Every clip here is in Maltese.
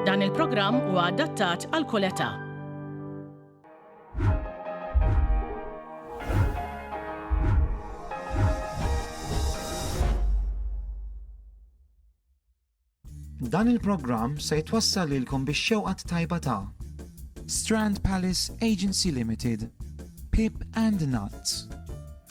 Dan il-programm huwa adattat għal kull età. Dan il-programm se jitwassal lilkom biex xewqat tajba ta' Strand Palace Agency Limited, Pip and Nuts.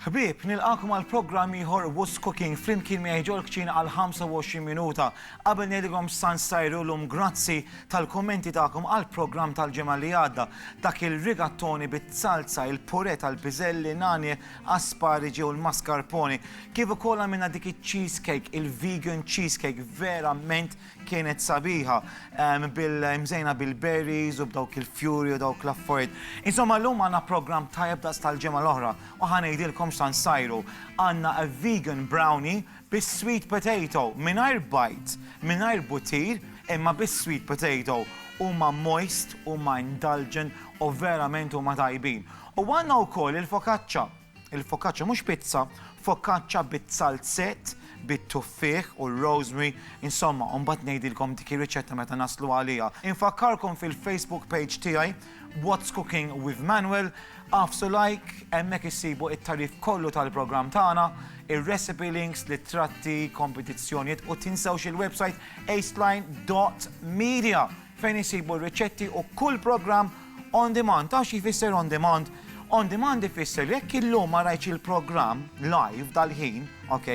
Ħbieb, nilqagħkom għal programm ieħor Who's Cooking flimkien miegħi ġol-kċina għal 25 minuta. Qabel ngħidilkom x'san sajru llum grazzi tal-kummenti tagħkom għall-programm tal-ġimgħa li għadda. Dak il-rigattoni bit-salza, il-purè tal-piżelli, nagħni, aspariġi u l-mascarpone. Kif ukoll għamilna dik iċ-cheesecake, il-vegan cheesecake, verament Kienet sabiħa, mżejna bil-berries u b'dawk il-fjuri u dawk l-affarijiet. Insomma llum għandna programm tajjeb daqs tal-ġimgħa l-oħra u ħa ngħidilkom x'tant sajru. Għandna a vegan brownie bis-sweet potato, mingħajr bajd, mingħajr buttir, imma bis-sweet potato. Huma moist, huma indulgent u verament huma tajbin. U għandna wkoll il-focaccia. Il-focaccia mhux pizza, focaccia bit-salzett, bit-tuffieħ u r-rosemary, insomma, u mbagħad ngħidilkom dik ir-riċetta meta naslu għaliha. Infakkarkom fil-Facebook page tiegħi, What's Cooking with Manuel, għafsu like, hemmhekk issibu it-tagħrif kollu tal-programm tagħna, ir-recipe links, l-ittratti, kompetizzjonijiet u tinsewx il-website aceline.media. fejn isibu r-riċetti u kull programm on demand. Taf x'jfisser on demand? On demand ifisser li jekk illum ma rajtx il-programm live dal-ħin, ok,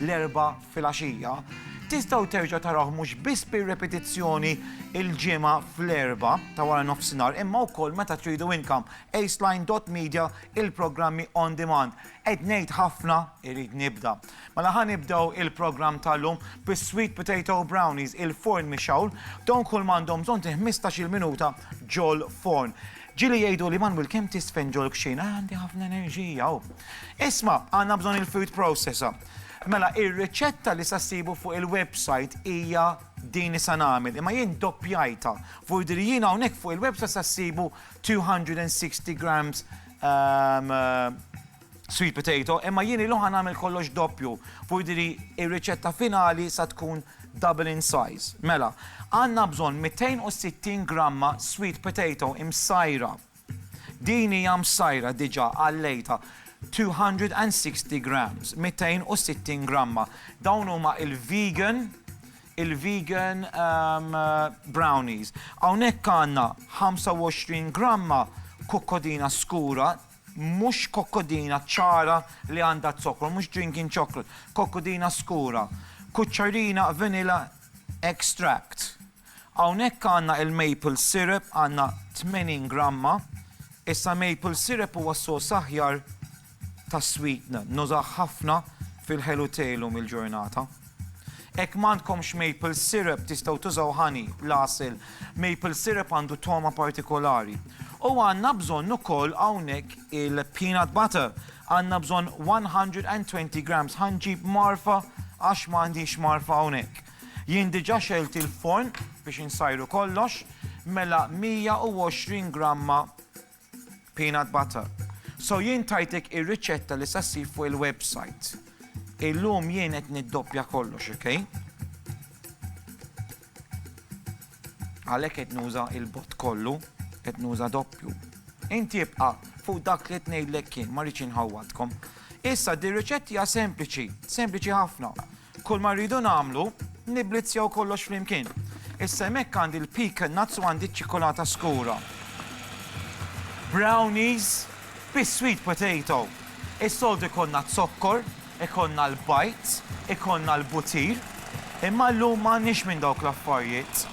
l-Erbgħa filgħaxija, tistgħu terġgħu tarawh mhux biss bir-repetizzjoni l-Ġimgħa fl-Erbgħa ta' wara nofsinhar imma wkoll meta tridu inkom. Aceline dot Media, il-programmi on demand. Qed ngħid ħafna, irrid nibda. Mela ħa nibdew il-programm tal-lum bis-sweet potato brownies il-forn mixawl, dawn kull m'għandhom bżonn ti 15-il minuta ġol forn. Ġili jgħidu li Manwil kemm tisfen ġol kxin, ah, għandi ħafna enerġija. Oh. Isma, għandna bżonn il-food processor. Mela, ir-riċetta li sa ssibu fuq il-website hija din li sa nagħmel, imma jien doppjajta. Vurdi li jien hawnhekk fuq il-website sa ssibu 260 grams um, uh, sweet potato, imma jien illum ħa nagħmel kollox doppju u jidhirli r-riċetta finali sa tkun double in size. Mela, għandna bżonn 260 gramma sweet potato imsajra. Din hija msajra diġà għallejtha 260 grams, 260 gramma. Dawn huma il-vegan, il-vegan ehm, brownies. Hawnhekk għandna 25 gramma kukkodina skura, Mhux kokkodina ċara li għandha z-zokkor, mhux drinking chocolate, kokkodina skura, kuċċarina vanilla extract. Hawnhekk għandna il-maple syrup, għandna 80 gramma. Issa maple syrup huwa s-sors aħjar tas-sweetener, nużah ħafna fil-ħelu tejlum il-ġurnata. Hekk m'għandkomx maple syrup tistgħu tużaw honey, l-għasel. Maple syrup għandu togħma partikolari. U għandna bżonn ukoll hawnhekk il-peanut butter. Għandna bżonn 120 grams. Ħa nġib mgħarfa għax m'għandix mgħarfa hawnhekk. Jien diġà xegħilt il-forn biex insajru kollox, mela 120 gramma Peanut butter. So jien tajtek ir-riċetta li sa ssib fuq il-website. Illum jien qed niddoppja kollox, okay? Għalhekk qed nuża il-bot kollu, qed nuża doppju. Inti ibqa' fuq dak li tnejlek kien ma rridx inħawwadkom. Issa di riċetti hija sempliċi, sempliċi ħafna. Kulma rridu nagħmlu, nibblizzjaw kollox flimkien. Issa hemmhekk għandi l-pecan nuts u għandi ċ-ċikolata skura. Brownies bis-sweet potato. Is-soltu jkollna z-zokkor, ikollna l-bajt, ikollna l-butir, imma llum m'għandniex minn dawk l-affarijiet.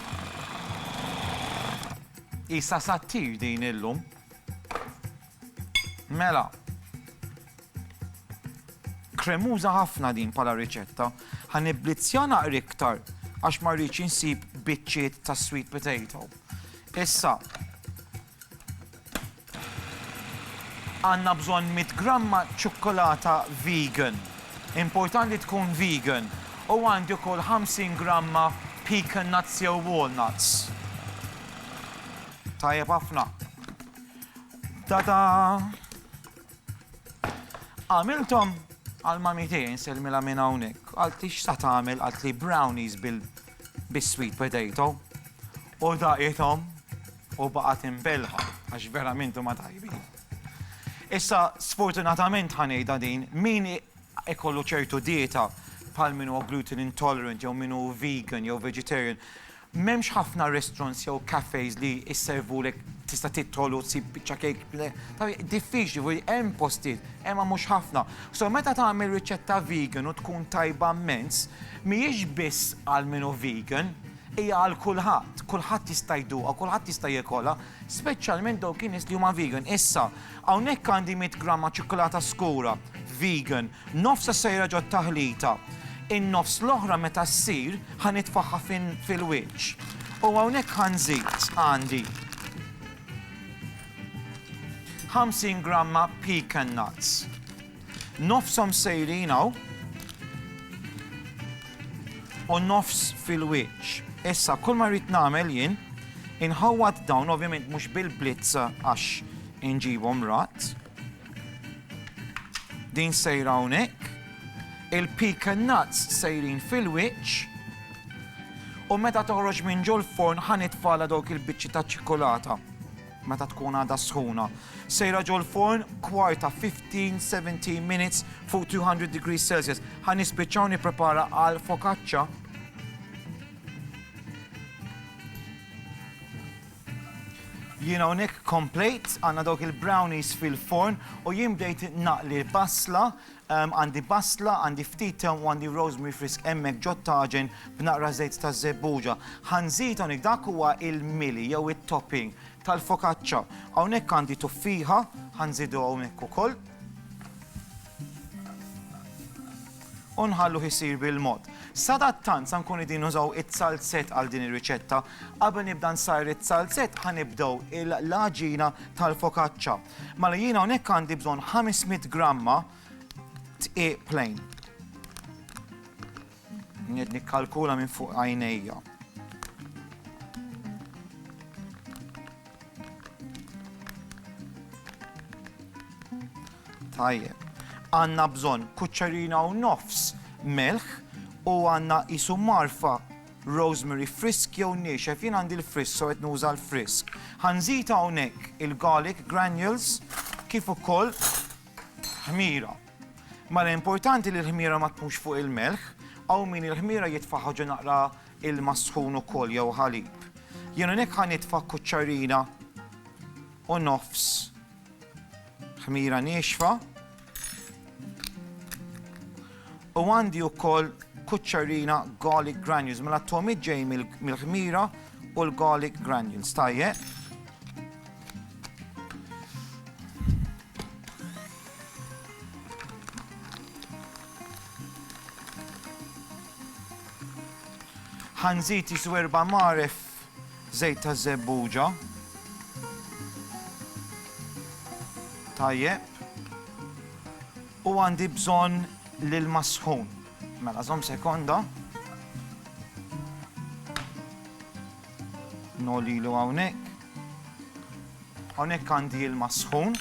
Qisha sattir din illum. Mela. Kremuża ħafna din bħala riċetta. Ħa nibblizzja naqra iktar għax ma rridx insib biċċiet ta' sweet potato. Issa, għanna bżon 100 gramma ċokkolata vegan. Importanti tkun vegan. U għandi kol 50 gramma pecan nuts jew walnuts. Tajjeb ħafna. Tata! Għamiltom għal mami tiegħi nselmilha minn hawnhekk. Għalt li x'sa tagħmel għalt li brownies bil bis-sweet potato u daqithom u baqgħet imbelħa għax verament huma tajbin. Issa sfortunatament ħanejda din min ikollu ċertu dieta bħal min huwa gluten intolerant jew min hu vegan jew vegetarian M'hemmx ħafna restaurants jew cafes li jservulek tista' tidħol u ssib biċċa kejk ple. Diffiċli, jiġifieri hemm postijiet, imma mhux ħafna. So meta tagħmel riċetta vegan u tkun tajba mmens, mhijiex biss għal min hu vegan, hija għal kulħadd. Kulħadd jista' jduqha, kulħadd jista' jekolha, speċjalment dawk in-nies li huma vegan. Issa, hawnhekk għandi mitt gramma ċikkulata skura vegan. Nofs isejra ġot-taħlita. In-nofs l-oħra meta ssir ħa nitfagħha fil-wiċċ. U hawnhekk ħa nżid għandi 50 gramma pecan nuts. Nofshom sejrin hawn u nofs fil-wiċċ. Issa kull ma rrid nagħmel jien inħawwad dawn ovvjament mhux bil-blitz għax inġibhom rat. Din sejra hawnhekk, il-pecan nuts sejrin fil-wiċċ, u meta toħroġ minn ġol forn ħa nitfala dawk il-biċċi ta' ċikolata meta tkun għadha sħuna. Sejra ġol forn kwarta 15-17 minutes fuq 200 degrees Celsius. Ħa nispiċċaw nipprepara għal focaccia Jien hawnhekk komplejt, għandna dawk il-brownies fil-forn u jien bdejt naqli l-basla, għandi basla, għandi ftit tewm u għandi rosemary frisk hemmhekk ġot-taġen b'naqra żejt ta' żebbuġa. Ħa nżid hawnhekk dak huwa il-mili jew it-topping tal-fokaċċa. Hawnhekk għandi tuffiħa, ħa nżidu hawnhekk ukoll. u nħalluh isir bil-mod. Sadattant sa nkun qegħdin nużaw it-salzett għal din ir-riċetta. Qabel nibda nsajr it-salzett ħa nibdew il-laġina tal-fokaċċa. Mela jiena hawnhekk għandi bżonn 500 gramma tqiq plain. Nikkalkula minn fuq għajnejja. Tajjeb. Għandna bżonn kuċċerina u nofs melħ u għandna qisu marfa rosemary frisk jew niexef, jien għandi l-frisk, so qed nuża l-frisk. Ħanżid hawnhekk il-garlic granules kif ukoll ħmira. Mela importanti li l-ħmira ma tkunx fuq il-melħ, hawn min il-ħmira jitfa' ħaġa naqra ilma sħun ukoll jew ħalib. Jien hawnhekk ħa nitfa' kuċċarina u nofs ħmira niexfa. U għandi wkoll kuċċarina garlic granules, mela t-tomit ġej mill-ħmira u l-garlic granules, tajjeb. ħanżid jisu erba' maref żejt ta' żebbuġa. Tajjeb. U għandi bżonn lil masħun. Mela żomm sekonda. Nolilu hawnhekk. Hawnhekk għandi ilma sħun.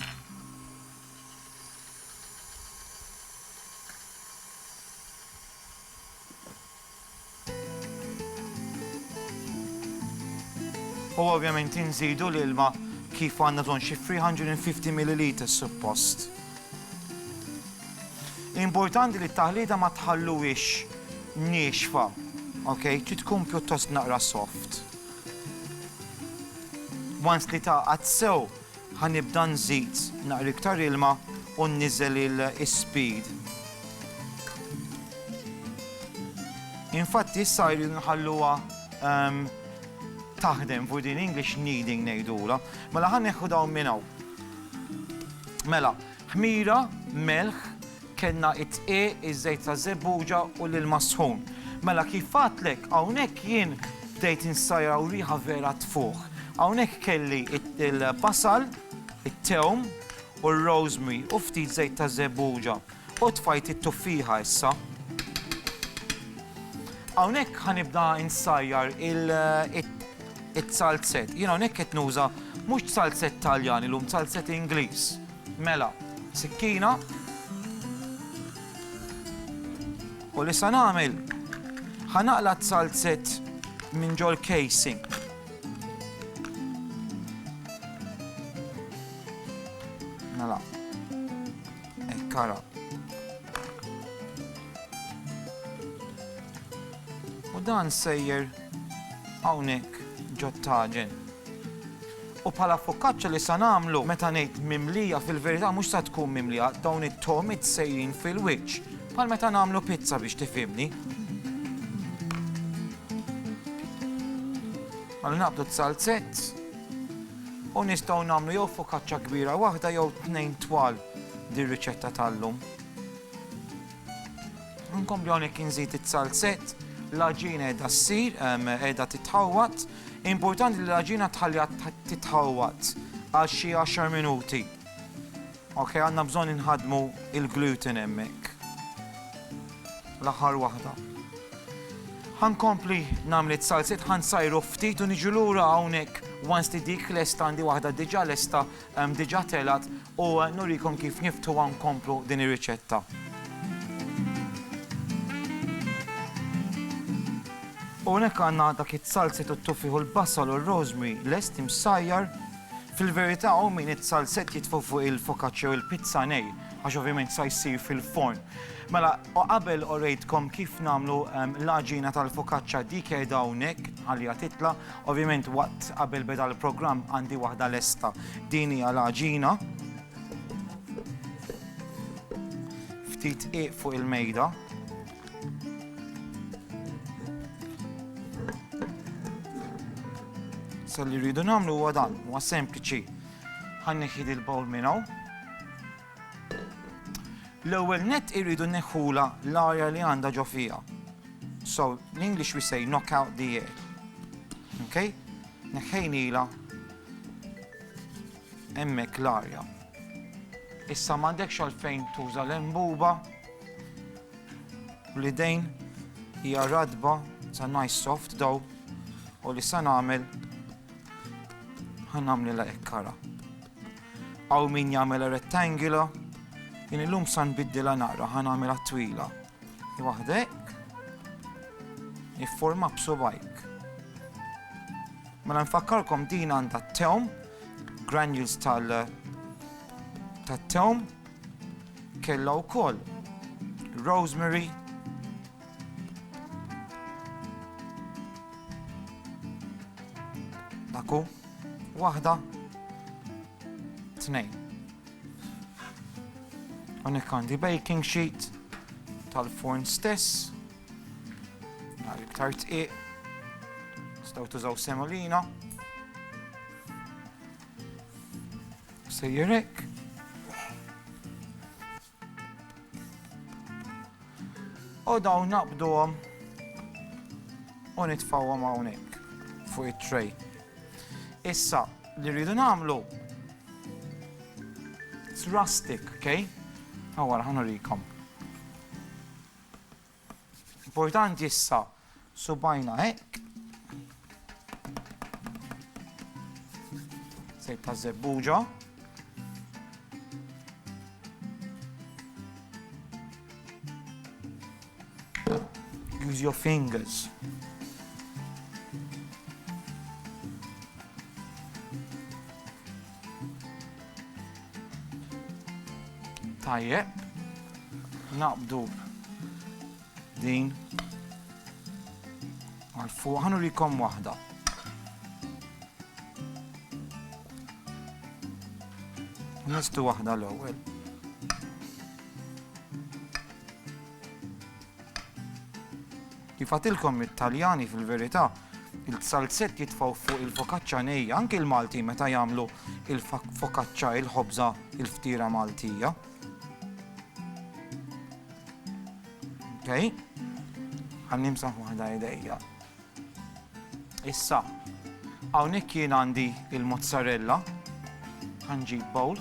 U ovvjament inżidu l-ilma kif għandna ton xi 350 ml suppost. Importanti li t-taħlita ma tħalluwix nixfa, ok? Trid tkun pjuttost naqra soft. Once li tagħqad sew ħa nibda nżid naqra iktar ilma u nniżel is-speed. Infatti issa jridu nħalluha ehm, taħdem fuq din English kneading ngħidulha. Mela ħa neħu dawn minn hawn. Mela, Ħmira, melħ, kellna it-tqiegħ, iż-żejt ta' żebbuġa u l-ilma sħun. Mela kif għadtlek, hawnhekk jien bdejt insajjar u riħa vera tfuħ. Hawnhekk kelli il-basal, it-tewm u r-rosemary u ftit żejt ta' żebbuġa u tfajt it-tuffieħa issa. Hawnhekk ħa nibda insajjar it-salzett. Jien hawnhekk qed nuża mhux salzett Taljan illum, salzett Ingliż. Mela, sikkina. U li sa nagħmel ħa naqla' t-salzett minn ġol casing. Mela. Ekkara. U dan sejjer hawnhekk ġot taġen. U bħala fokaċċa li sa nagħmlu meta ngħid mimlija fil-verità mhux sa tkun mimlija, dawn it-togħmiet sejrin fil-wiċċ, bħal meta nagħmlu pizza biex tifhimni. Għallu naqbdu t-salzett u nistgħu nagħmlu jew fokaċċa kbira waħda jew tnejn twal dir-riċetta tal-lum. Nkompli hawnhekk inżid it-salzett, l-għaġina qiegħda ssir, qiegħda titħawwad, Importanti li l-għaġina tħalliha titħawwad għal xi għaxar minuti. Ok, għandna bżonn inħadmu il-gluten hemmhekk. L-aħħar waħda. Ħankompli nagħmlet salsit ħansajru ftit u niġu lura hawnhekk once li dik lesta għandi waħda diġà lesta Diġà telgħet u nurikom kif niftħuha nkomplu din ir-riċetta. U hawnhekk għandna dak it-salset u t-tuffiħ u l-basal u r-rosemary lest imsajjar. Fil-verità hawn min it-salset jitfu fuq il-focaccia u l-pizza nej, għax ovvjament sa jsir fil-forn. Mela, u qabel orejtkom kif nagħmlu l-għaġina tal-focaccia dik qiegħda hawnhekk għaliha titla', Ovvjament waqt qabel beda l-programm għandi waħda lesta. Din hija l-għaġina. Ftit qiq fuq il-mejda. Sa li rridu nagħmlu huwa dan, huwa sempliċi. Ħanneħid il-bowl minn hawn. L-ewwel nett irridu nneħħulha l-arja li għandha ġo fiha. So, in English we say knock out the air. Okay? Neħħejnila hemmhekk l-arja. Issa m'għandekx għalfejn tuża l-embuba u l-idejn hija radba sa nice soft daw u li sa nagħmel ħan nagħmlilha hekk kara. Hawn min jagħmilha rettangolo. Jien illum sa nbiddilha naqra ħa nagħmilha twila. Waħda hekk. Nifforma b'subajk. Mela nfakkarkom din għandha t-tewm, granules tal tat-tewm, kellha wkoll rosemary, Aku, waħda, tnejn. Unek għandi baking sheet tal-forn stess, għal iktar tqiq, staw tużaw semolina, sejjerek, U dawn naqbduhom u nitfawhom hawnhekk fuq it-tray. Issa li rridu nagħmlu it's rustic, okay? Għawara, ħanurikom. Importanti issa subajna hekk. Sejt ta' zebbuġa. Use your fingers. Tajjeb, naqbdu din għal fuq, ħanu rikom wahda. Nistu wahda l-ewwel. Kif għadtilkom it-Taljani fil-verità il-salzett jitfgħu fuq il-fokaċċa nejja, anki l-Maltin meta jagħmlu il-fokaċċa il-ħobża il-ftiera Maltija. Okay? Għan nimsaħ waħda idejja. Issa, hawnhekk jien għandi il-mozzarella, ħanġib bowl.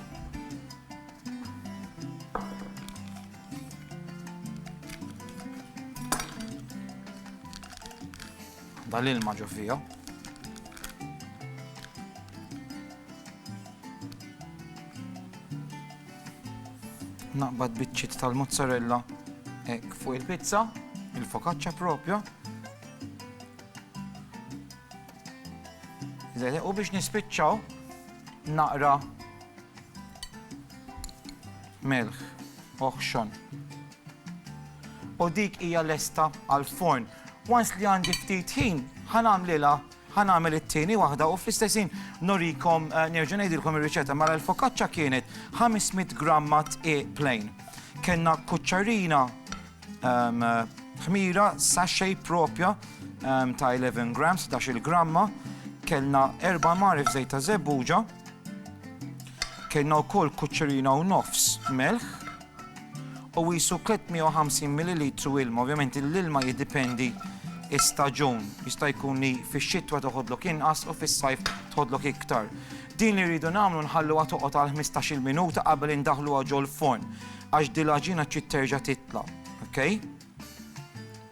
dal-ilma ġo fija. Naqbad biċċiet tal-mozzarella hekk fuq il-pizza, il-fokaċċa propja. U biex nispiċċaw naqra melħ oħxon. U dik hija lesta għal-forn. Once li għandi ftit ħin, ħanamlilha ħanamel it-tieni waħda u fl-istessin norikom eh, nerġa' ngħidilkom ir-riċetta mara l-fokaċċa kienet 500 gramma tqiq plain. Kenna kuċċarina Ħmira sachet propja ta' 11 grams, 16 gramma, kellna erba' marif żejt ta' żebbuġa, kellna wkoll kuċċerina u nofs melħ, u jisu 350 ml ilma, ovvjament l-ilma jiddipendi istaġun, jista' jkun li fix-xitwa toħodlok inqas u fis-sajf toħodlok iktar. Din li rridu nagħmlu nħalluha toqgħod għal 15-il minuta qabel indaħluha ġol-forn. Għax din l-għaġina trid terġa' titla', ok?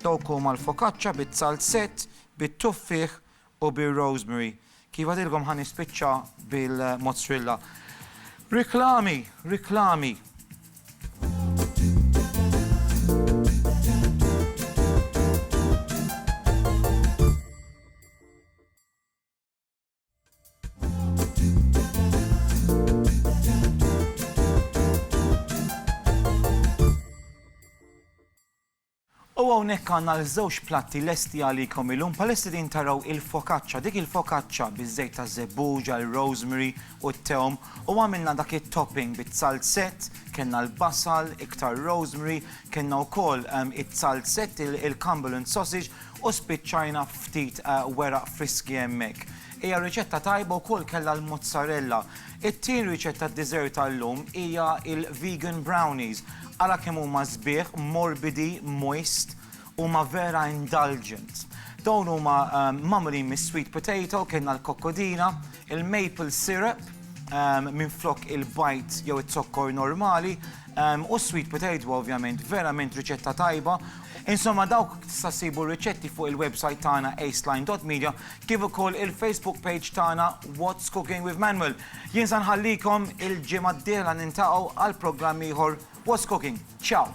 Dawk huma l-fokaċċa bit-salzett, bit-tuffieħ u bir-rosemary. Kif għadilkom ħa nispiċċa bil-mozzrilla. Riklami, riklami. U hawnhekk għandna l-żewġ platti lesti għalikom illum palessi din taraw il-fokaċċa, dik il-fokaċċa biż-żejt ta' żebbuġa, il-rosemary u t-tewm u għamilna dak it-topping bit-salzett, kellna l-basal, iktar rosemary, kellna wkoll ehm, it-salzett, il-cumberland sausage, U spiċċajna ftit weraq friski hemmhekk. Hija riċetta tajba wkoll kellha l-mozzarella. It-tieni riċetta dessert tal-lum hija il-vegan brownies. Ara kemm huma sbieħ, morbidi, moist, huma vera indulgent. Dawn huma magħmulin mis-sweet potato, kellna l-kokkodina, il-maple syrup minflok il-bajd jew iz-zokkor normali u s-sweet potato ovvjament verament riċetta tajba. Insomma dawk tista' ssibu r-riċetti fuq il-website tagħna aceline.media kif ukoll il-Facebook page tagħna What's Cooking with Manuel. Jien sa nħallikom il-ġimgħa d-dieħla nintaqgħu għal programm ieħor What's Cooking. Ciao!